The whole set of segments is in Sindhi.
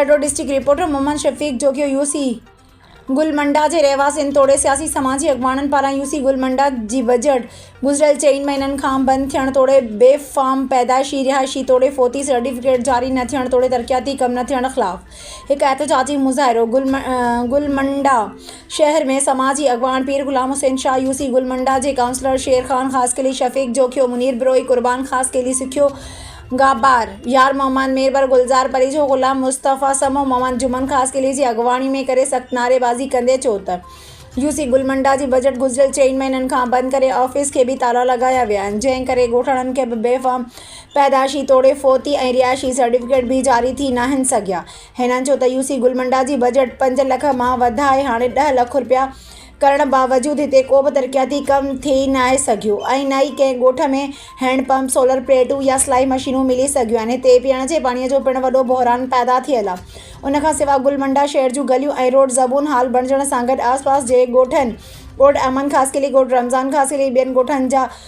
Thatta, district reporter, Muhammad Shafiq Jokhio U C Gul Manda جي رهواسين توڙي سياسي سماجي اڳواڻن پاران يو سي گل منڊا جي بجيٽ گذريل چئن مهينن کان بند ٿيڻ توڙي بي فارم پيدائشي رهائشي توڙي فوتي سرٽيفڪيٽ جاري نه ٿيڻ توڙي ترقياتي ڪم نه ٿيڻ خلاف هڪ احتجاجي مظاهرو گل منڊا شهر ۾ سماجي اڳواڻ پير غلام حسين شاهه، يو سي گل منڊا جي ڪائونسلر شير خان خاصخيلي، شفيق جوکيو، منير بروهي، قربان خاصخيلي، سکيو گهابار، يار محمد ميربر، گلزار پريجو، غلام مصطفيٰ سمو، محمد جمن خاصخيلي جي اڳواڻي ۾ ڪري سخت نعريبازي ڪندي چيو ته يو سي گل منڊا جي بجيٽ گذريل چئن مهينن کان بند ڪري آفيس کي به تالا لڳايا ويا آهن جنهن ڪري ڳوٺاڻن کي به بي فارم پيدائشي توڙي فوتي ۽ رهائشي سرٽيفڪيٽ به جاري ٿي ناهن سگهيا هنن جو ته يو سي گل منڊا جي بجيٽ پنج لک مان وڌائي هاڻي ڏهه لک رپيا ڪرڻ باوجود هتي ڪوبه ترقياتي ڪم ٿي ناهي سگهيو ۽ نه ئي ڪنهن ڳوٺ ۾ هينڊ پمپ، سولر پليٽون يا سلائي مشينون ملي سگهيون آهن. هتي پيئڻ جي پاڻيء جو پڻ وڏو بحران پيدا ٿيل آ. ان کان سوا گل منڊا شهر جون گليون ۽ روڊ زبون حال بڻجڻ سان گڏ آس پاس جي ڳوٺن، ڳوٺ احمد خاصخيلي، ڳوٺ رمضان خاصخيلي، ٻين ڳوٺن جا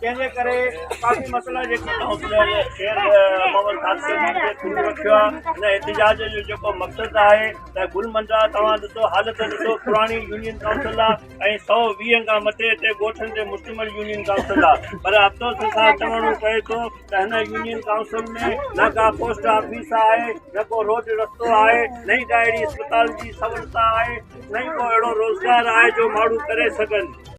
جنهن جي ڪري ڪافي مسئلا جيڪي ڪائونسلر شير محمد خاصخيلي کي ٿورو رکيو آهي هن احتجاج جو جيڪو مقصد آهي ته گل منڊا توهان ڏسو حالت ڏسو پراڻي يونين ڪائونسل آهي ۽ سؤ ويهن کان مٿي هتي ڳوٺن تي مشتمل يونين ڪائونسل آهي پر افسوس سان چوڻو پئي ٿو ته هن يونين ڪائونسل ۾ نه ڪا پوسٽ آفيس آهي نه ڪو روڊ رستو آهي نه ئي ڪا اهڙي اسپتال جي سهولت آهي نه ئي ڪو اهڙو روزگار آهي جو ماڻهو ڪري سگهن